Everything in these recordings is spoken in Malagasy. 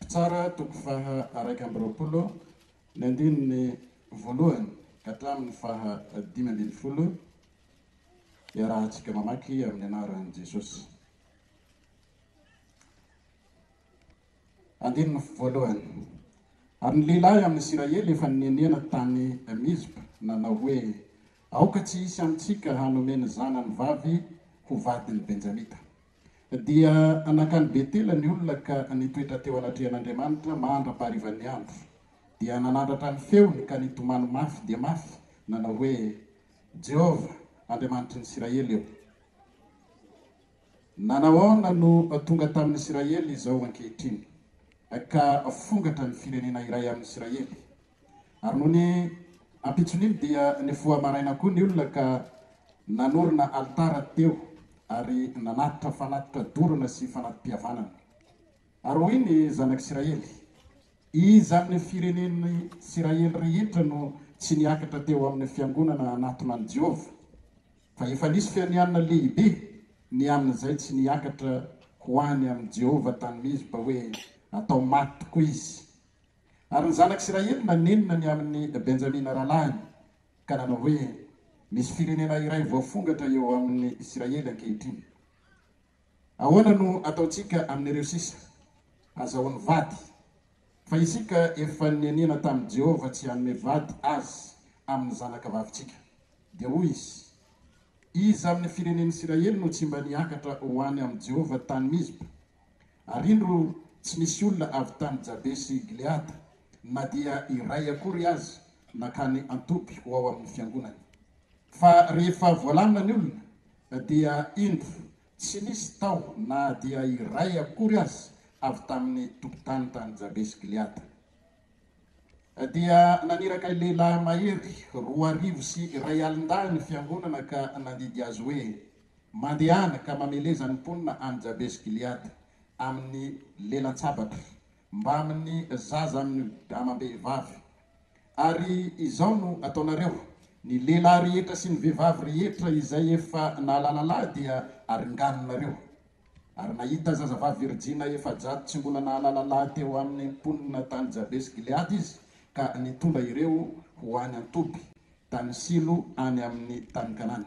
Mpitsara, toko faha iraika amby roapolo, ny andininy voalohany ka hatramin'ny faha dimy ambin'ny folo, iarahantsika mamaky amin'ny anaran'i Jesosy. Andininy voalohany. Ary ny lehilahy amin'ny Isiraely efa nenena tany Mizpa nanao hoe, Aoka tsy hisy amintsika hanome ny zanany vavy ho vadin'ny Benjamita. Dia nankany Betela ny olona ka nitoetra teo anatrehan'Andriamanitra mandra-paharivan'ny andro. Dia nanandratra ny feony ka nitomany mafy dia mafy, nanao hoe, Jehovah, Andriamanitry ny Isiraely ô, nanahoana no tonga tamin'ny Isiraely izao ankehitriny, ka fongatra ny firenena iray amin'ny Isiraely? Ary nony ampitson'iny dia nifoha maraina koa ny olona ka nanorina alitara teo ary nanatitra fanatitra dorana sy fanati-pihavanana. Ary hoy ny zanak'Isiraely, Iza amin'ny firenen'ny Isiraely rehetra no tsy niakatra teo amin'ny fiangonana hanatona an'i Jehovah? Fa efa nisy fianianana lehibe ny amin'izay tsy niakatra ho any amin'i Jehovah tany Mizpa hoe, Atao maty tokoa izy, Ary ny zanak'Isiraely nanenina ny amin'i Benjamina rahalahiny, ka nanao hoe, Misy firenena iray voafongatra eo amin'ny Isiraely ankehitriny. Ahoana no ataontsika amin'ireo sisa? Hazahoany vady, fa isika efa neniana tamin'i Jehovah tsy hanome vady azy amin'ny zanakavavintsika. Dia hoy izy, Iza amin'ny firenen'Isiraely no tsy mba niakatra ho any amin'i Jehovah tany Mizpa? Ary indro, tsy nisy olona avy tany Jabesi-gileada, na dia iray akory aza, nankany an-toby ho ao amin'ny fiangonany. Fa rehefa voalamina ny olona, dia indro, tsy nisy tao na dia iray akory aza avy tamin'ny tompon-tany tany Jabesi-gileada. dia naniraka lehilahy mahery roa arivo sy iray alin-dahy ny fiangonana ka nandidy azy hoe, Mandehana ka mameleza ny mponina any Jabesi-gileada, amin'ny lelan-tsabatra, mbamin'ny zaza amin'ny amam-behivavy. Ary izao no ataonareo, Ny lehilahy rehetra sy ny vehivavy rehetra izay efa nahalalalahy dia aringaninareo. Ary nahita zazavavy virjina efajato tsy mbola nahalala lahy teo amin'ny mponina tany Jabesi-gileada izy, ka nitondra ireo ho any an-toby, tany Silo any amin'ny tany Kanana.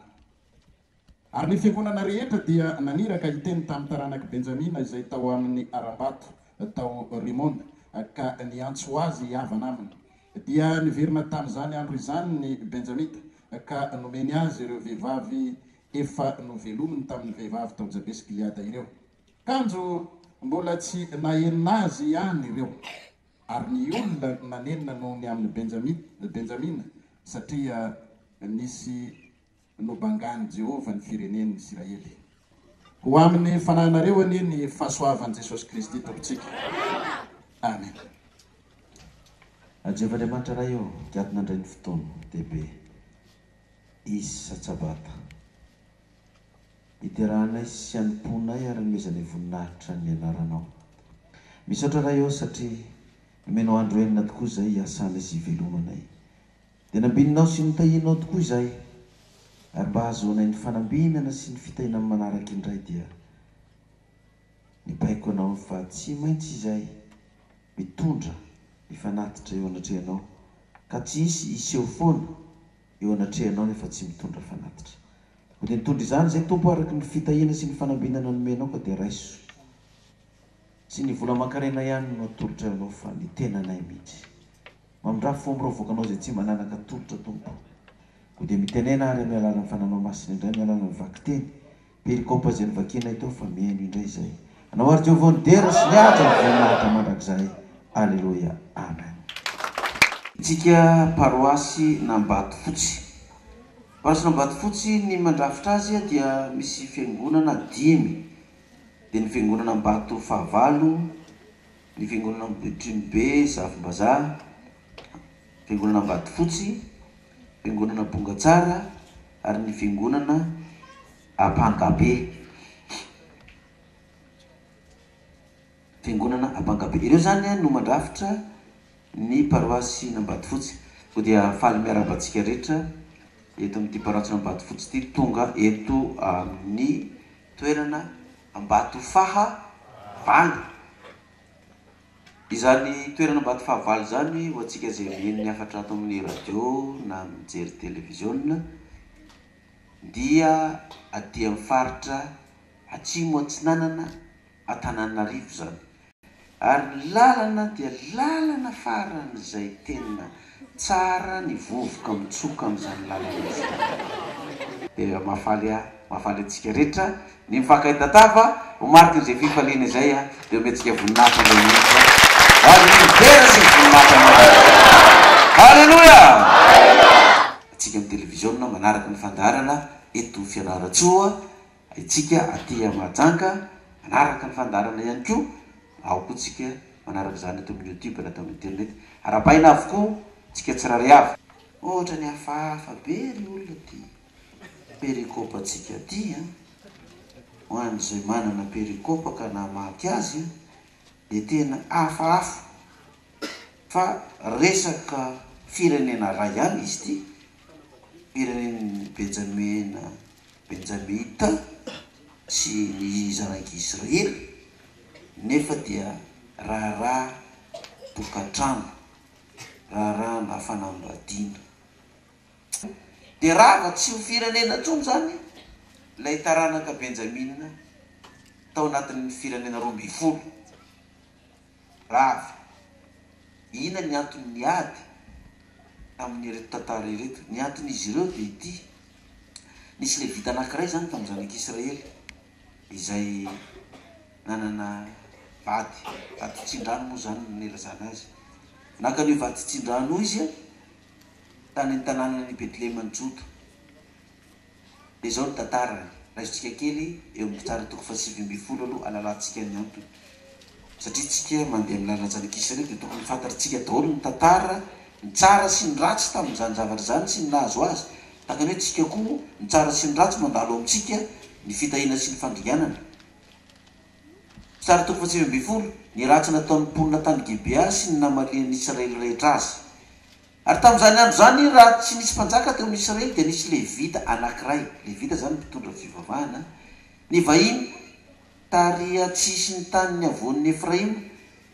Ary ny fiangonana rehetra dia naniraka hiteny tamin'ny taranak'i Benjamina izay tao amin'ny harambato tao Rimona, ka niantso azy hihavana aminy. Dia niverina tamin'izany andro izany ny Benjamita, ka nomeny azy ireo vehivavy efa novelominy tamin'ny vehivavy tao Jabesi-gileada ireo, kanjo mbola tsy nahenona azy ihany ireo, ary ny olona nanenina noho ny amin'ny Benjamina, Benjamina, satria nisy nobangain'i Jehovah ny firenen'ny Isiraely. Ho amin'ny fanahinareo anie ny fahasoavan'i Jesosy Kristy Tompontsika. Amena. A Jehovah Andriamanitra Ray ô, gadona indray ny fotoana, dia be. Izy Satsabata. Iderahanay sy an'ny mponay ary nomezanay voninahitra ny anaranao. Misaotra Ray ô satria nomenao andro enina tokoa izay hiasana sy hivelomanay. Dia nambininao sy notahianao tokoa izahay ary mba hahazoanay ny fanambinana sy ny fitahiana amin'ny manaraka indray dia. ny baiko anao fa tsy maintsy izay mitondra ny fanatitra eo anatrehanao ka tsy hisy hiseho foana eo anatrehanao nefa tsy mitondra fanatitra. Koa dia nitondra izany izay Tompo araka ny fitahiana sy ny fanambinana nomenao ka dia raiso. Tsy ny vola aman-karena ihany no atolotra ho anao fa ny tenanay mihitsy. Mamindrafo fo miravoaka anao izay tsy mananaka tolotra Tompo. Koa dia mitenena ary amin'ny alalan'ny Fananao Masina indray ny alalany vakiteny Dia ny compo izay novakianay teo fa mihaino indray izay. Anao ary Jehovah no dera sy ny ady ary voninahitra mandrakizay. Aleloia. Amen. Antsika paroasy n'Ambatofotsy. Paroasy n'Ambatofotsy ny mandrafitra azy dia misy fiangonana dimy dia ny fiangonana Ambato fahavalo, ny fiangonana Ambohitrimobe, Zafimbazaha, fiangonana Ambatofotsy, Fiangonana Bongatsara ary ny Fiangonana Ampangabe. Fiangonana Ampangabe. Ireo izany no mandrafitra ny paroasin'Ambatofotsy. Koa dia faly miarahaba antsika rehetra eto amin'ity paroasin'Ambatofotsy ity tonga eto amin'ny toerana Ambatofahavalo. Izany toerana Ambatofahavalo izany ho antsika izay mihaino ny hafatra ato amin'ny radio na mijery televiziona dia aty amin'ny faritra Atsimo Atsinanana Antananarivo izany ary ny lalana dia lalana faran'izay tena Tsara ny vovoka mitsoka amin'izany lalana izany. Dia mahafaly ahy, mahafaly antsika rehetra ny mifankahay tatava ho marikin'izay fifaliana izay aho. Dia omentsika voninahitra Andriamanitra ho an'ny univers sy ny voninahitra an'Andriamanitra. Haleloia! Antsika amin'ny televiziona manaraka ny fandaharana eto Fianarantsoa Haintsika aty amin'ny Mahajanga manaraka ny fandaharana ihany koa ao koa tsika manaraka izany ato amin'ny youtube na ato amin'ny internet. Arabaina avokoa tsika tsirary avy. Ohatrany hafahafa be ry olona aty pericop antsika aty an! Ho an'izay manana pericop ka namaky azy dia tena hafahafa fa resaka firenena iray ihany izy ity, firenen'i Benjamena Benjamita sy ny zanak'i Israely nefa dia raharaha tokantrano, raharahana fanambadiana. Dia rava tsy ho firenena intsony izany ilay taranaka Benjamina tao anatin'ny firenena roa ambin'ny folo. Rava, inona ny antony niady amin'ireto tantara ireto? Ny anton'izy ireo dia ity, Nisy Levita anankiray izany tamin'ny zanak'Israely izay nanana vady vaditsindrano, moa izany no nilazana azy. Naka an'io vaditsindrano io izy tany an-tanànan'i Betleheman'i Joda. Dia izao ny tantarany, raisintsika kely eo amin'ny mpitsara toko fahasivy ambin'ny folo aloha halalantsika ny antony. Satria tsika mandeha amin'ny lalan'i Zanak'Israely dia tokony fantarintsika daholo ny tantara, ny tsara sy ny ratsy tamin'izany zavatra izany sy ny nahazo azy. Tahaka ny hoe tsika koa, ny tsara sy ny ratsy mandalo ao amintsika, ny fitahiana sy ny fandringanana. Mpitsara toko fahasivy ambin'ny folo, Ny ratsy nataon'ny mponina tany Gibea sy ny namalian'ny Israely rehetra azy. Ary tamin'izany andro izany, raha tsy nisy mpanjaka teo amin'ny Isiraely, dia nisy Levita anankiray, Levita izany mpitondra fivavahana, nivahiny tary an-tsisin'ny tanin'ny havoan'i Efraima,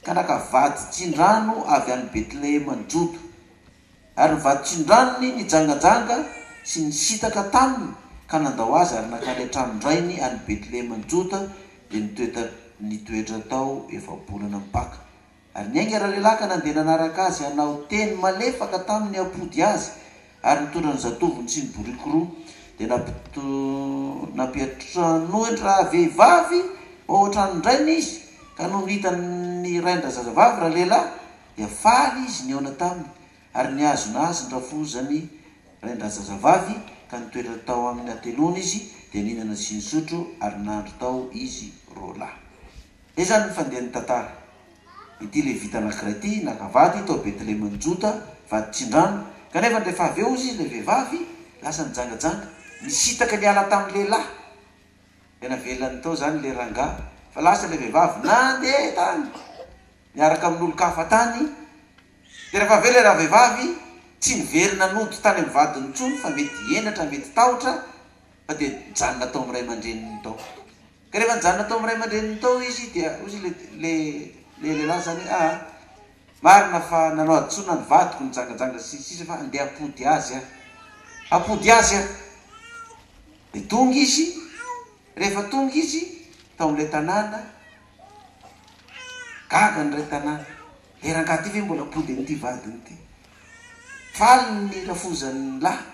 ka naka vaditsindrano avy any Betlehema ny Joda. Ary ny vaditrindranony nijangajanga sy nisintaka taminy, ka nandao azy ary nankany an-tranon-drainy any Betlehema ny Joda, dia nitoetra tao efa-bolana mipaka. Ary niainga ralehilahy ka nandeha nanaraka azy hanao teny malefaka taminy hampody azy, ary nitondra ny zatovony sy ny boriky roa. Dia nampit nampiantranoany rahavehivavy ho ao an-tranon-drainy izy, ka nony hitany ny rain-drazazavavy ralehilahy, dia faly izy nihaona taminy, ary nihazona azy ny rafozany rain-drazazavavy, ka nitoetra tao amin' ny hateloany izy, dia nihinana sy nisotro, ary nandry tao izy roalahy. Dia izany ny fandehan'ny tantara. Ity Levita anankiray ity naka vady tao Betlehemon'i Joda, vady tsindrano, kanefa rehefa avy eo hozy izy ilay vehivavy lasa nijangajanga, nisintaka niala tamin'ny lehilahy. Dia navelany tao izany ilay rangahy, fa lasa ilay vehivavy nandeha tany niaraka amin'olon-kafa tany. Dia rehefa avy eo ilay ravehivavy, tsy niverina nody tany amin'ny vadiny intsony, fa mety henatra, mety tahotra, fa dia nijanona tao amin'ny ray aman-dreniny tao. Ka rehefa nijanona tao amin'ny ray aman-dreniny tao izy dia hoy ilay ilay lehilahy izany hoe, aa, marina fa nanao hadisoana ny vadiko nijangajanga sy ny sisa fa andeha hampody azy aho. Hampody azy aho. Dia tonga izy, rehefa tonga izy tao amin'ilay tanàna, gaga ny iray tanàna, le rangahy ity ve mbola hampody an'ity vadiny ity? Faly ny rafozan'ny lahy,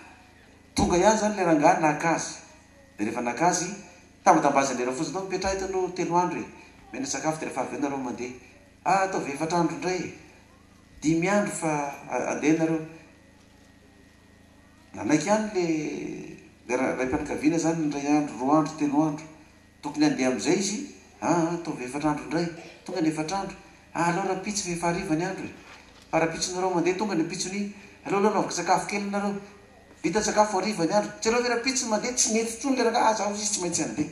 tonga ihany izany ilay rangahy naka azy. Dia rehefa naka azy, tambidambazana ela fotsiny, mipetraha eto aloha telo andro e! Omena sakafo dia rehefa avy eo nareo mandeha. Ah, ataovy efatra andro indray e! Dimy andro fa andeha nareo. Nanaiky ihany le le raim-pianakaviana izany indray andro, roa andro, telo andro. Tokony handeha amin'izay izy, ah ah, ataovy efatra andro indray. Tonga ny efatra andro, ah aleo rahampitso fa efa hariva ny andro e! Fa rahampitsonareo mandeha, tonga ny ampitson'iny, aleo aloha anaoviko sakafo kely nareo. Vita sakafo hariva ny andro. Jereo ve rampitso mandeha tsy mety intsony le rangahy aza hozy izy tsy maintsy handeha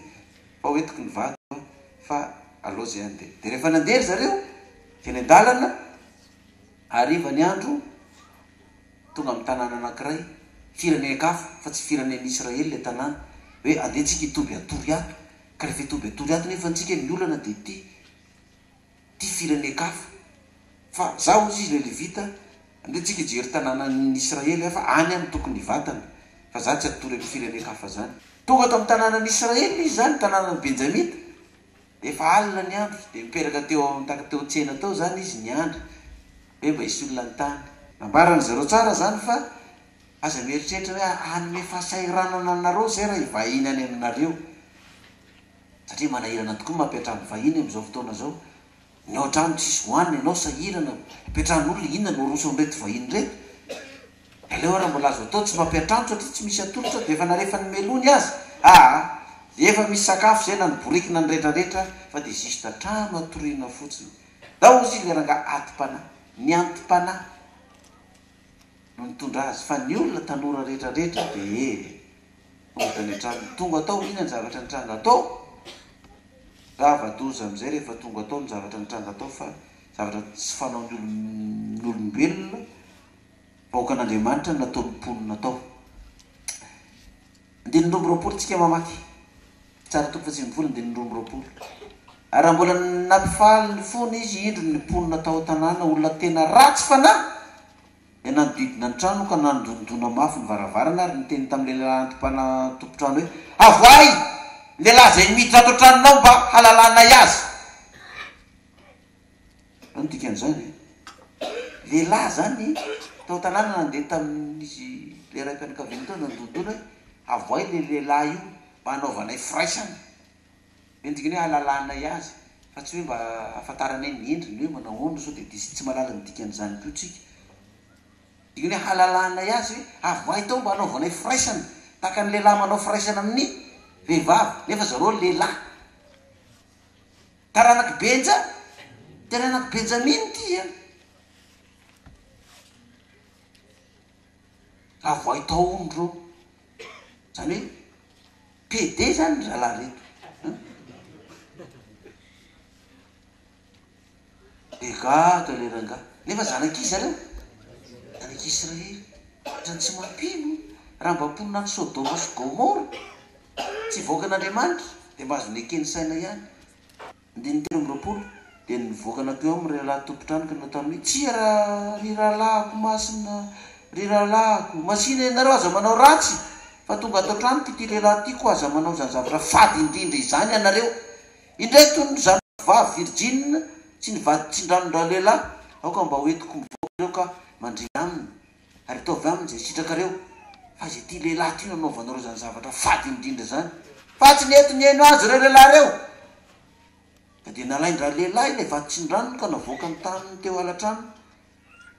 fa hoentiko ny vady aloha fa aleo zay handeha de rehefa nandeha ry zareo teny an-dalana hariva ny andro tonga amin'ny tanàna anankiray firenenk hafa fa tsy firenen'i Israely ilay tanàna hoe andeha tsika hitoby an-toriato ka rehefa hitoby an-toriato nefa antsika ny olana de ity ty firenen-kafa fa za ozy izy le levita andeha tsika hijery tananan'ny Israely hafa any any tokony hivatana fa za tsy hatory amin'ny firenen-kafa zany tonga tamin'ny tananan'ny Israely izy zany tananan'ny Benjamita de efa alina ny andro de nipetraka teo amin'ny taka teo tsena tao zany izy niandry hoe mba hisy olona an-tany. Nambaran-dry zareo tsara zany fa aza mieritreritra hoe hanome fahasahiranana anareo zay raha hivahiny any aminareo. satria manahirana tokoa ny mampiantrano ny vahiny amin'izao fotoana izao, ny ao an-trano tsisy hohanina ianao sahirana ampiantranon'olona inona no aroso an'ireto vahiny ireto, aleo ary mbola azo atao tsy mampiantrano satria tsy misy atolotra dia efa narefan'ny melony aza, aa efa misy sakafo izay na ny boriky na ny retraretra fa dia juste trano atoriana fotsiny, ndao hozy ilay rangahy atim-panahy, ny anti-panahy no nitondra azy fa ny olona tanora retraretra dia. Mody any an-tranony. Tonga tao ho inona ny zavatra nitranga tao? Rava doza amin'izay rehefa tonga tao ny zavatra nitranga tao fa zavatra tsy fanaon'ny olombelona, vahoakan'Andriamanitra no nataon'ny mponina tao. Andininy roa amby roapolo tsika mamaky. Tsara tokoa fa tsy mivola andininy roa amby roapolo. Ary raha mbola nampifaly ny fony izy indro ny mponina tao an-tanàna olona tena ratsy fanahy. Dia nanodidina ny trano ka nandondona mafy ny varavarana ary niteny tamin'ilay lehilahy anti-mpanatompontrano hoe, Avoahy ny lehilahy izay miditra ato an-tranonao mba halalanay azy. Inona no dikan'izany? Lehilahy izany tao an-tanàna nandeha tamin'izy ilay raim-pianakaviana teo nandondona hoe, Avoahy ilay lehilahy io mba hanaovanay firaisana. Endrika ny hoe halalanay azy fa tsy hoe mba hahafantaranay ny endriny hoe manao ahoana sao dia diso tsy mahalala ny dikan'izany koa tsika. Dika ny hoe halalanay azy hoe avoahy tao mba hanaovanay firaisana tahaka ny lehilahy manao firaisana amin'ny vehivavy nefa zareo lehilahy. Taranak'i Benja, taranak'i Benjamina ity an. Raha voay tao hono reo. Zany hoe pede zany ry zalahy reto an! Be gadra le rangahy. Nefa zanak'iza reo? Zanak'Israely. Otrany tsy mampino. Raha mba mponina any Sodoma sy Gomora, tsy hivoaka an'Andriamanitra, dia mba azo neken'ny saina ihany. Andininy telo amby roapolo, Dia nivoaka natao eo amin'ireo lahy tompon-trano ka nanao taminy hoe, Tsia, ra, ry rahalahiko masina, ry rahalahiko, masina ianareo, aza manao ratsy, fa tonga ato an-tranoko ity lehilahy ity, koa aza manao izany zavatra fady indrindra izany ianareo. Indray toy ny zanako vavy virjina, tsy nivadi-tsindranon-dralehilahy, aoka mba hoentiko mivoaka ireo ka mandria aminy. Ary ataovy aminy izay sitrakareo, fa izay ity lehilahy ity no anaovanareo izany zavatra fady indrindra izany. Fa tsy nety nihaino azy ireo lehilahy ireo, ka dia nalain-dralehilahy ilay vatsin-dranony ka navoakany taminy teo ala-tranony.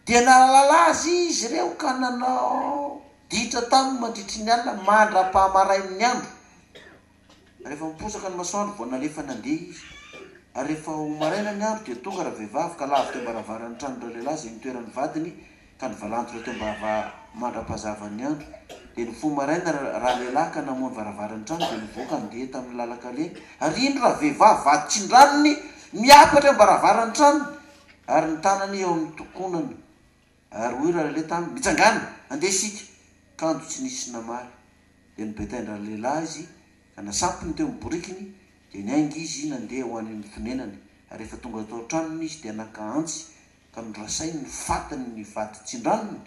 Dia nahalala azy izy ireo ka nanao ditra taminy mandritry ny alina mandra-pahamarain'ny andro. Rehefa miposaka ny masoandro vao nalefa nandeha izy. Ary rehefa ho maraina ny andro dia tonga ravehivavy ka lavo teo am-baravaran'ny tranon dralehilahy izay nitoeran'ny vadiny ka nivalantola teo ambava mandra-pahazavan'ny andro. Dia nifoha maraina ralehilahy ka namoha ny varavaran'ny trano dia nivoaka andeha tamin'ny lalan-kalehany. Ary indro ravehivavy vaditsin-dranony miakatra eo am-baravaran'ny tranony ary ny tanany eo amin'ny tokonany. Ary hoy ralehilahy taminy, Mitsangàna! Handeha isika! Kanjo tsy nisy namaly. Dia nibetainy ralehilahy izy, ka nasampiny teo amin'ny borikiny, dia niainga izy nandeha ho any amin'ny fonenany. Ary rehefa tonga tao an-tranony izy, dia naka antsy, ka norasainy ny fatiny ny vato tsindranony,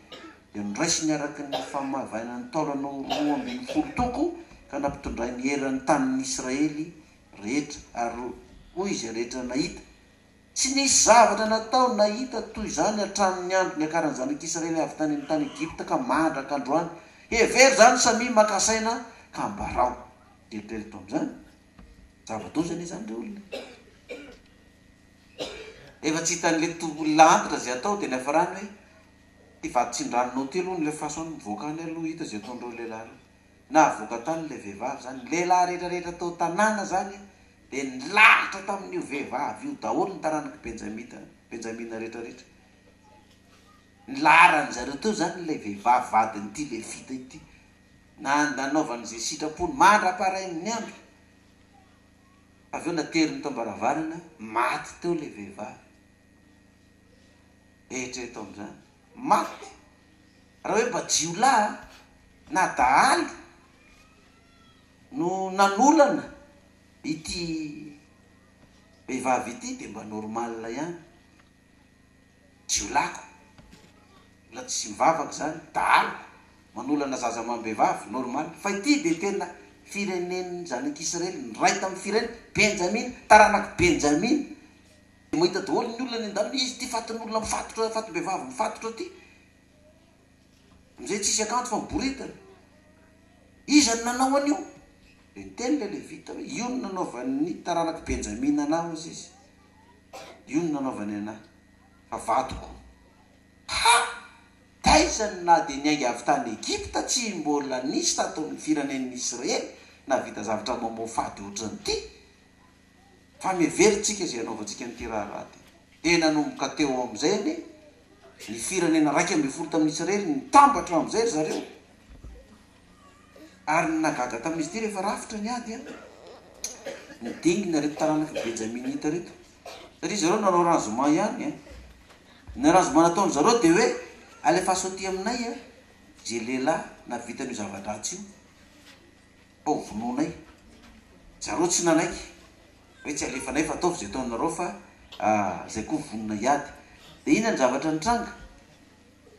dia noraisiny araka ny famavainan'ny taolana ho roa ambin'ny folo toko, ka nampitondrainy eran'ny tanin'ny Israely rehetra. Ary hoy izay rehetra nahita. Tsy nisy zavatra natao na hita toy izany hatramin' ny andro niakaran' ny Zanak' Isiraely avy tany amin' ny tany Egypta ka mandrak' androany. Hevero izany samia maka saina ka ambarao. Eritreritra tamin' izany. Zava-doza anie izany ry olona e! Rehefa tsy hitan' ilay to olona antitra izay atao dia niafarany hoe, Ity vadin-tsindranonao ity aloha no lefaso any mivoaka any aloha hita izay ataon' ireo lehilahy ireo. Navoaka tany ilay vehivavy izany. Ny lehilahy rehetrarehetra tao an-tanàna izany dia nilahatra tamin'io vehivavy io daholo ny taranak'i Benjamita, Benjamina rehetrarehetra. Ny laharan-dry zareo teo izany ilay vehivavy vadin'ity Levita ity, na nanaovany izay sitrapony mandra-parain'ny andro. Avy eo nateriny tao am-baravarana, maty teo ilay vehivavy. Eritrereto amin'izany. Maty! Raha hoe mba jiolahy na dahalo no nanolana ity vehivavy ity dia mba normal ihany. Jiolahiko mbola tsy nivavaka izany, dahaloko manolana zaza amam-behivavy, normal. Fa ity dia tena firenen'ny zanak'i Israely, niray tamin'ny firenen, Benjamina, taranak'i Benjamina. Dia mahita daholo ny olona any an-dalana, izy ity fatin'olona mifatotra, fatim-behivavy mifatotra ity, Nge tsisy akanjo fa miboridana. Iza no nanao an'io? Dia niteny ilay Levita hoe, Io no nanaovan'ny taranak'i Benjamina anà, hozy izy. Io no nanaovany anà, fa vadiko. Ha! Taiza no na dia niainga avy tany Egypta tsy mbola nisy tato amin'ny firenen'ny Israely nahavita zavatra mamoafady hoatran'ity? fa miheverin-tsika izay hanaovantsika an'ity raharaha ity. Dia nanomboka teo amin'izay ny ny firenena iraika ambin'ny folo tamin'ny Israely, nitambatra amin'izay ry zareo. Ary ny nahagaga tamin'izy ity rehefa rafitra ny ady an, ny dingana ireto taranak'i Benjaminita ireto, satria zareo nanao arrangement ihany an, ny arrangement nataon'ny zareo dia hoe alefaso aty aminay an, izay lehilahy nahavita an'io zava-dratsy io. Ho vonoinay. Zareo tsy nanaiky hoe tsy alefanay fa ataovy izay ataonareo fa izay koa vonona hiady. Dia inona ny zavatra nitranga?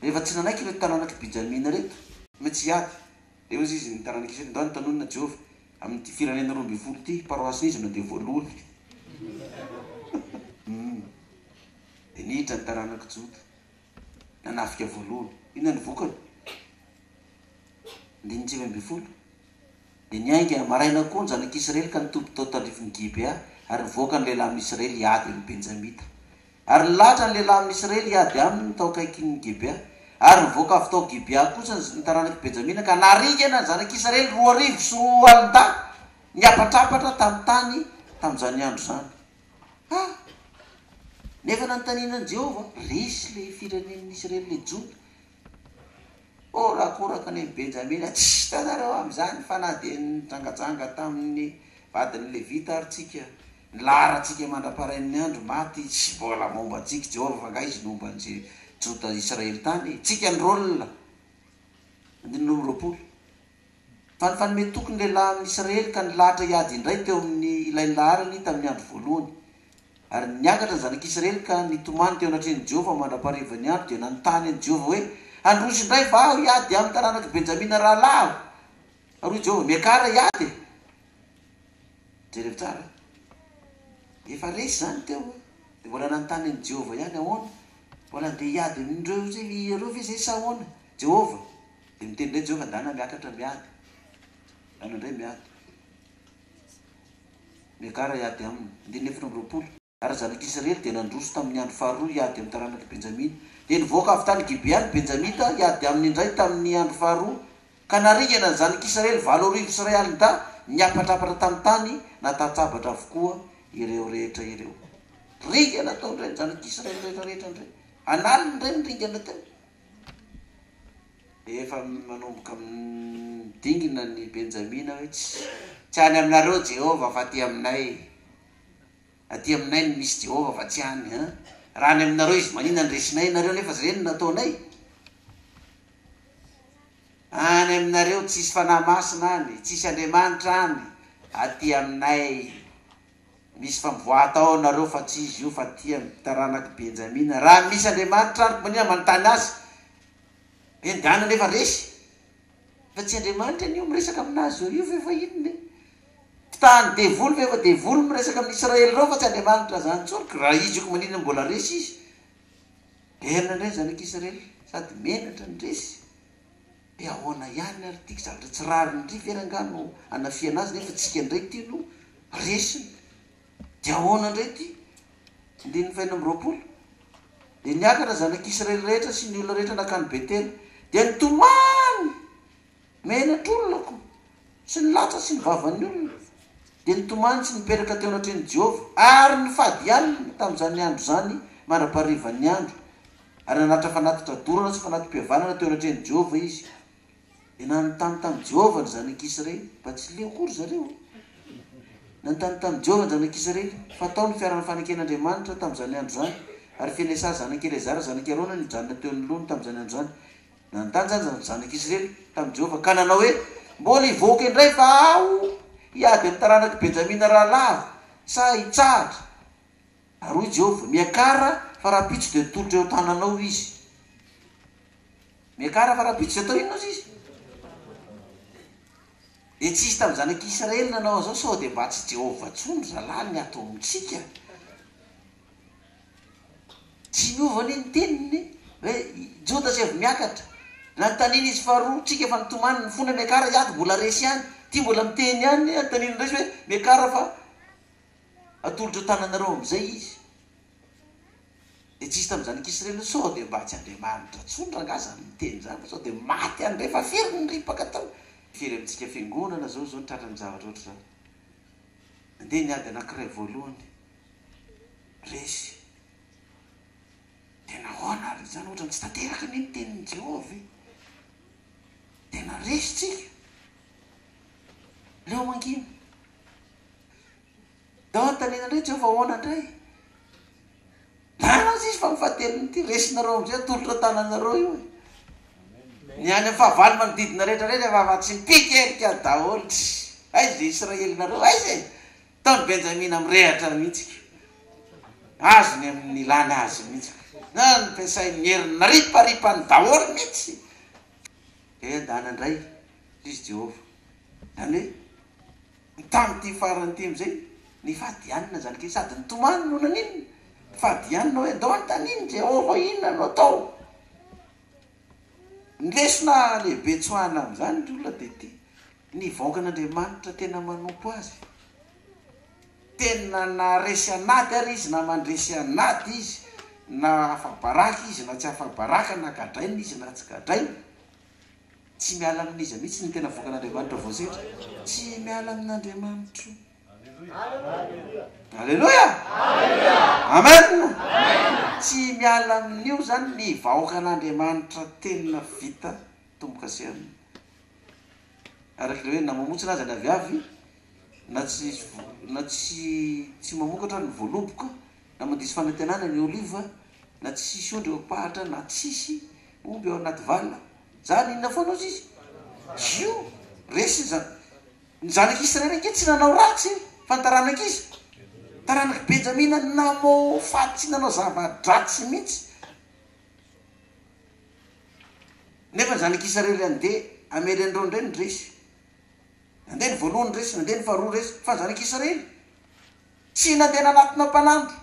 Rehefa tsy nanaiky ireto taranak'i Benjamina ireto ny tsy hiady, dia hoy izy ny taranak'i Israely, Ndao nitanonona Jehovah amin'ity firenena roa ambin'ny folo ity, paroasin'i Izona dia voaloany. Dia niditra ny taranak'i Joda, nanafika voaloany. Inona ny vokany? Andininy sivy ambin'ny folo, Dia niainga maraina koa ny zanak'Israely ka nitody tao tandrifin'i Gibea, ary nivoaka ny lehilahy amin'ny Israely hiady amin'ny Benjamita. Ary nilahatra ny lehilahy amin'ny Israely hiady aminy tao akaikin'i Gibea. Ary nivoaka avy tao Gibea kosa ny taranak'i Benjamina ka naringana ny zanak'Israely roa arivo sy roa alin-dahy niapatrapatra tamin'ny tany tamin'izany andro izany. Ha! Nefa nanontaniana an'i Jehovah, Resy ilay firenen'ny Israely, ilay Joda, Horakoraka ny an'i Benjamina, tsy hitanareo amin'izany fa na dia nijangajanga tamin'ny vadin'ny Levita ary tsika, ny laharantsika mandra-parain'ny andro maty tsy mbola momba antsika, Jehovah fa angaha izy no homba ny Joda Israely tany? Tsika ny Rôl. Andininy roa amby roapolo. Tany fanome toky ny lehilahy amin' ny Isiraely ka nilahatra hiady indray teo amin' ny ilay laharany tamin' ny andro voalohany. Ary niakatra ny Zanak' Isiraely ka nitomany teo anatrehan' i Jehovah mandra-paharivan' ny andro dia nanontany an' i Jehovah hoe, Handroso indray va aho hiady amin' ny taranak' i Benjamina rahalahiko? Ary hoy Jehovah, Miakara hiady e! Jereo tsara. Efa resy izany teo an! Dia mbola nanontany an' i Jehovah ihany, Ahoana? Mbola handeha hiady amin' ireo ireo ve izahay sa ahoana, Jehovah? Dia niteny indray Jehovah, Andeha na miakatra miady, anao indray miady. Miakara hiady aminy. Andininy efatra amby roapolo. Ary ny zanak'Israely dia nandroso tamin'ny andro faharoa hiady amin'ny taranak'i Benjamina. Dia nivoaka avy tany Gibea ny Benjamita hiady aminy indray tamin'ny andro faharoa, ka naringana ny zanak'Israely valo arivo sy iray alin-dahy, niapatrapatra tamin'ny tany, natatsabatra avokoa ireo rehetra ireo. Ringana tao indray ny zanak'Israely rehetra rehetra indray. An'aliny indray ny ringana teo. Efa manomboka midingina ny Benjamina hoe, Tsy any aminareo Jehovah fa aty aminay. Aty aminay no misy Jehovah fa tsy any. An! Raha any aminareo izy, manina ny resinay ianareo nefa izay no nataonay? Any aminareo tsisy fanahy masina any, tsisy Andriamanitra any. Aty aminay. Misy famboa atao ao nareo fa tsy izy io fa tia ny taranak'i Benjamina. Raha misy Andriamanitra ary mania manontany azy. Ben Dan anefa resy. Fa tsy Andriamanitra anio miresaka aminazy zao io ve fa inona e? Mpitahan'ny devoly ve fa devoly miresaka amin'ny Israely ireo fa tsy Andriamanitra zany tsony ka raha izy io ka maninona mbola resy izy. Bern indray ny zanak'i Israely sady menatra ny resy. De ahoana ihany ary ity zavatra tsy rariny ity ve rangah no anafihana azy nefa tsika indray ity no resiny de ahoana indray ity andininy fahenina amby roapolo de niakatra zanak' Israely rehetra sy ny olona rehetra nakany Betela dia nitomany menatr' olona ko sy ny latra sy ny vavan' ny olona dia nitomany sy nipetraka teo anatrehan' i Jehovah ary nifady alina tamin' izany andro izany mandra-paharivan' ny andro ary nanatitra fanatitra dorana sy fanati-pihavanana teo anatrehan'i Jehovah izy. Dia nanontany tamin'i Jehovah ny zanak'Israely, mba tsy leo koa ry zareo. Nanontany tamin'i Jehovah ny zanak'Israely, fa tao ny fiaran'ny faneken'Andriamanitra tamin'izany andro izany, ary Finesaha zanak'i Eleazara zanak'i Arona no nijanona teo anoloany tamin'izany andro izany. Nanontany izany ny zanak'Israely tamin'i Jehovah, ka nanao hoe, Mbola hivoaka indray va aho hiady amin'ny taranak'i Benjamina rahalahiko, sa hitsahatra? Ary hoy Jehovah, Miakara fa rahampitso dia tolotra eo an-tananao izy. Miakara fa rahampitso dia atao inona ozy izy? Dia tsy hisy tamin'ny zanak'i Israely nanao an'izao sao dia mba tsy Jehovah intsony ry zalahy ny ato amintsika. Tsy miova anie ny teniny hoe Joda sy avy miakatra. Nanontaniana izy faharoa, tsika efa nitomany, mifona miakara hiady mbola resy ihany. Ity mbola miteny ihany, anontaniana indray izy hoe miakara fa Atolotro an-tananareo amin'izay izy. Dia tsy hisy tamin'izany ankizy ireny hoe sao dia mba tsy Andriamanitra intsony rangahy izany miteny izany fa sao dia maty any indray fa very ny ripaka tao. Firy amintsika fiangonana izao izao no tratran'ny zavatra ohatr'izany. Nandeha ny ady anankiray voalohany, resy. Dia nahoana ary izany? Ohatra ny tsy tanteraka anie ny tenin'i Jehovah ve? Tena resy tsika. Leo mangina. Dia anontaniana indray Jehovah hoe ahoana indray? Marina izy fa ny fahatelony ity resinareo amin'izay atolotra an-tananareo io e. Ny any amin'ny fahavalo manodidina rehetra indray rehefa avy atsy mpikelika daholo tsy aiza izay Israelinareo aiza e. Taon'i Benjamina mirehatra mihitsy ko. Azony amin'ny ilana azy mihitsy. Na nampiasain'ny herin'ny nariparipany daholo mihitsy. Kay andana ndray lzy Jehovah. Zany hoe ny tany ty farany ty amzay nifadianina zany kay sady nitomany no naninona? Nifadianina hoe ndao anontaniany Jehovah inona no atao. Ny lesona lehibe tsoahina amzany ry olona de ty, Ny vahoakan'Andriamanitra tena manompo Azy, tena na resy an'ady ary izy na mandresy an'ady izy, na afa-baraka izy na tsy afa-baraka, na gadraina izy na tsy gadraina, tsy miala amin'iza mihitsy ny tena vahoakan'Andriamanitra voasedra. Tsy miala amin'Andriamanitro. Aleloia! Amen! Tsy miala amin'io zany ny vahoakan'Andriamanitra tena vita tombo-kase aminy. araka ilay hoe na mamontsina aza ny aviavy, na tsy na tsy tsy mamokatra ny voaloboka, na mandiso fanantenana ny oliva, na tsy hisy ondry eo am-pahatra, na tsy hisy omby ao anaty vala. Zany inona foana ozy izy? Io! Resiny zany. Ny zanak'i Israely ange tsy nanao ratsy fa ny taranak'iza? Taranak'i Benjamina namofatsy nanao zava-dratsy mihitsy. Nefa ny zanak' Isarely andeha hamely an'ireo indray ny resy. Nandeha ny voalohany ny resy, nandeha ny faharoa ny resy, fa ny zanak' Isarely tsy nandeha nanatona mpanandro,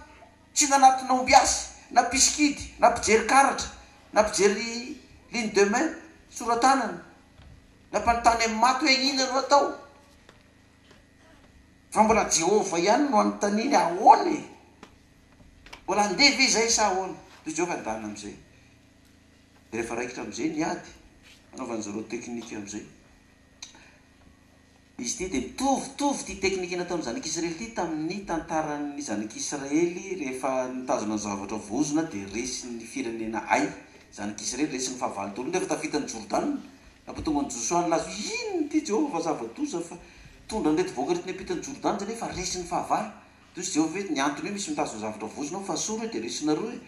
tsy nanatona ombiasy, na mpisikidy, na mpijery karatra, na mpijery ligne de main, sora-tanana, na mpanontany amin'ny maty hoe inona no atao. Fa mbola Jehovah ihany no anontaniany ahoana e! Mbola handeha ve izay sa ahoana? Toy izao ka ny lalana amin'izay. Dia rehefa raikitra amin'izay ny ady, anaovan'i Zorro teknika amin'izay. Izy ity dia mitovitovy ity teknika nataon'ny zanak'Israely ity tamin'ny tantaran'ny zanak'Israely rehefa nitazona zavatra voazona dia resin'ny firenena ay, zanak'Israely resin'ny fahavalo daholo nefa tafita ny Jordana. Nampitombo an'i Josoa nilaza hoe, Inona ity Jehovah fa zava-doza fa tondra an'ireto vahoaka ireto niampita an'i Jordana izany hoe fa resy ny fahavalo? Dia hoy izy Jehovah hoe, Ny antony hoe misy mitazona zavatra vozona ao fa asoro io dia resinareo e!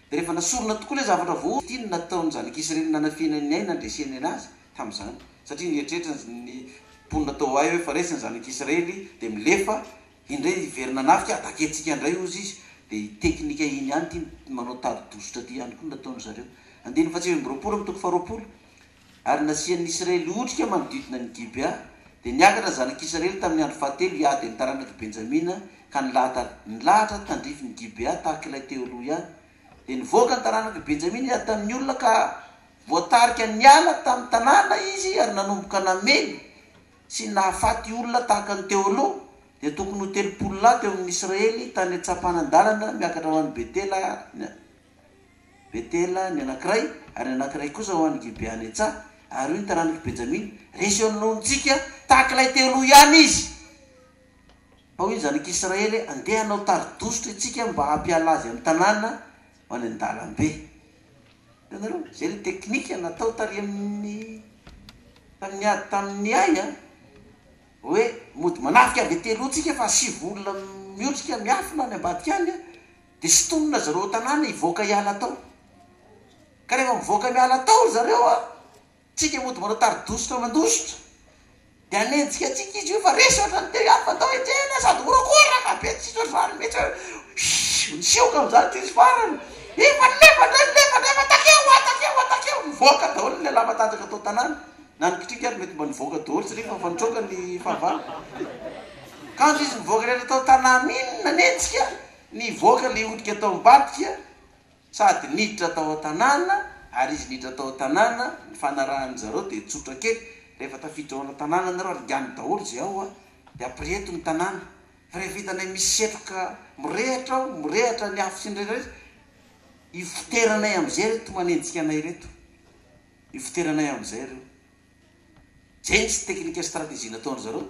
Dia rehefa nasorona tokoa ilay zavatra voaozona dia inona no nataon'ny zanak'Israely nanafihana ny ahy nandreseny an'azy tamin'izany? Satria nieritreritra ny mponina tao Ay hoe fa resy ny zanak'Israely dia milefa indray hiverina hanafika ahy, takiantsika indray hozy izy. Dia ity teknika iny ihany ity manao tari-dositra ity ihany koa no nataon'izareo. Andininy faha-sivy amby roapolo amin'ny toko faha-roapolo. Ary nasian'ny Isiraely otrika manodidina an'i Gibea, dia niakatra ny zanak'Isiraely tamin'ny andro fahatelo hiady amin'ny taranak'i Benjamina, ka nilahatara. Nilahatra tandrifin'i Gibea tahaka ilay teo aloha ihany. Dia nivoaka ny taranak'i Benjamina hiady tamin'ny olona, ka voatarika niala tamin'ny tanàna izy ary nanomboka namely sy nahafaty olona tahaka ny teo aloha. Dia tokony ho telopolo lahy teo amin'ny Isiraely tany an-tsampanan-dalana miakatra ho any Betela. Betela ny anankiray, ary ny anankiray kosa ho an'i Gibeanetsa, ary hoy ny taranak'i Benjamina, Resy eo anoloantsika tahaka ilay teo aloha ihany izy. Fa hoy ny zanak'Israely, Andeha hanao tari-dositra isika mba hampiala azy amin'ny tanàna ho any an-dalambe. Hitanareo? Izay ilay teknika natao tary amin'ny tamin'ny ady tamin'ny Ay an. Hoe mody manafika Betela hoy isika fa asivo olona miotrika miafina any ambadika any an. Dia sintonina ry zareo ao tanàna hivoaka hiala tao. Ka rehefa mivoaka miala tao ry zareo an, tsika mody manao tari-dositra mandositra. Dia hanenjika antsika izy hoe fa resy ohatran'ny teo ihany fa andao hiantsena sady horakoraka be tsisy ohatr'izany mihitsy hoe shhh! Nisioka amin'izany ity izy farany. Efa nilefa indray nilefa indray fa takeo an! Takeo an! Takeo! Nivoaka daholo ny lehilahy matanjaka tao tanàna. Na ny kitrika ary mety mba nivoaka daholo satria efa efa nitroka ny fahavalo. Kanjo izy nivoaka rehetra tao tanàna iny nanenjika. Nivoaka ilay otrika tao ambadika sady niditra tao an-tanàna ary izy niditra tao an-tanàna, ny fanarahan-dry zareo dia tsotra kely, rehefa tafiditra ao an-tanàna ianareo ary enganin daholo izay ao an, dia après eto ny tanàna, fa rehefa hitanay misy setroka mirehatra ao, mirehatra ny afo sy ny rehetra rehetra, ivoteranay amin'izay ireto manenjika anay ireto, ivoteranay amin'izay ireo. Jentsy teknika sy strategie nataon-dry zareo.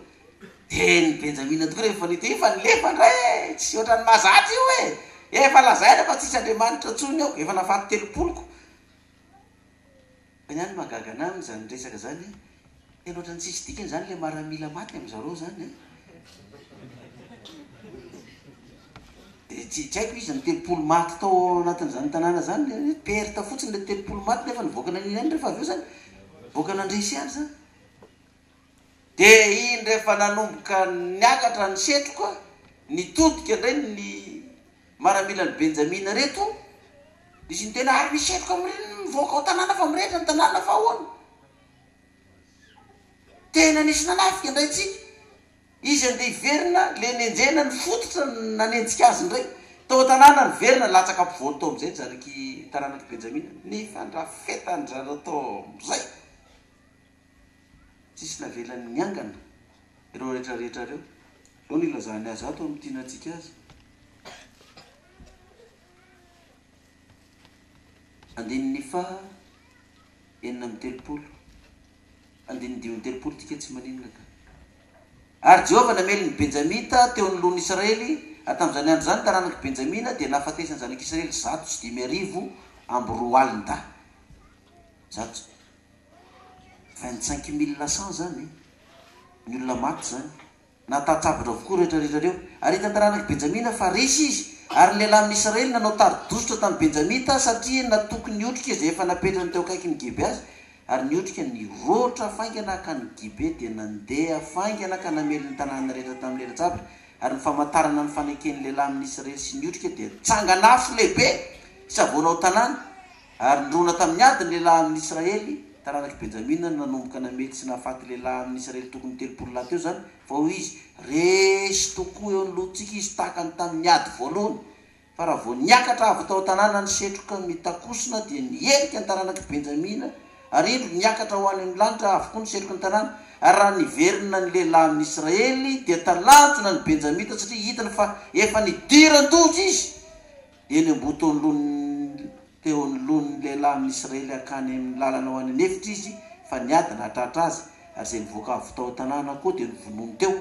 Dia ny Benjamina tokoa rehefa nahita io fa nilefa indray e! Tsy ohatran'ny mahazatra io e! Efa lazaina fa tsisy Andriamanitra intsony ao, efa nafaty telopoloko. Fa ny ahy ny mahagaga an'ahy amin'izany resaka izany an, tena ohatran'ny tsisy dikany izany ilay maramila maty amin-dry zareo izany an. Dia tsy haiko iza no telopolo maty tao anatin'izany tanàna izany, dia hoe perte fotsiny ilay telopolo maty nefa nivoaka nania ihany rehefa avy eo izany, nivoaka nandresy ihany izany. Dia iny rehefa nanomboka niakatra ny setroka, nitodika indray ny maramilan'i Benjamina ireto, izy niteny, ary misy setroka mirinina mivoaka ao tanàna fa mirehitra ny tanàna fa ahoana? Tena nisy nanafika indray tsika. Izy andeha hiverina le nenjehina ny fototra nanenjika azy indray tao an-tanàna ny verina latsaka ampovoany tao amin'izay jariky taranak'i Benjamina nefa andrafetan-dry-zareo tao amin'izay. Tsisy navelany niangana ireo rehetrarehetra ireo. Izao no ilazany azy ato amin'ny tianantsika azy. Andininy faha enina amby telopolo. Andinindininy telopolo Tika tsy maninona ka. Ary Jehovah namely ny Benjamita teo anoloan'ny Israely, ary tamin'izany andro izany ny taranak'i Benjamina dia nahafatesan'ny zanak'Israely zato sy dimy arivo amby roa alin-dahy. Zato sy vingt-cinq mille cent izany e! Ny olona maty izany. Nahatsatsavatra avokoa ireo tratratra ireo. Ary hitan'ny taranak'i Benjamina fa resy izy, ary ny lehilahy amin'ny Israely nanao tari-dositra tamin'ny Benjamita, satria natoky ny otrika izay efa napetrany teo akaikin'i Gibe azy, ary ny otrika niroatra faingana hankany Gibe, dia nandeha faingana ka namely ny tanàna rehetra tamin'ny elatsabatra, ary ny famantarana ny faneken'ny lehilahy amin'ny Israely sy ny otrika dia tsangan'afo lehibe sy havoana ao an-tanàna. Ary nirona tamin'ny ady ny lehilahy amin'ny Israely, taranak'i Benjamina no nanomboka namely sy nahafaty lehilahy amin'ny Israely tokony telopolo lahy teo izany, fa hoy izy, Resy tokoa eo ny lohantsika izy tahaka ny tamin'ny ady voalohany, fa raha vao niakatra avy tao an-tanàna ny setroka mitakosona dia niherika ny taranak'i Benjamina, ary indro niakatra ho any amin'ny lanitra avokoa ny setroky ny tanàna, ary raha niverina ny lehilahy amin'ny Israely dia talanjona ny Benjamita satria hitany fa efa nidiran-doza izy, Eny am-botoan'lon'ny teo anoloan'ny lehilahy amin'ny Isiraely hankany amin'ny lalana ho any an'efitra izy fa niady nahatratra azy, ary izay nivoaka avy tao an-tanàna koa dia novonoiny teo.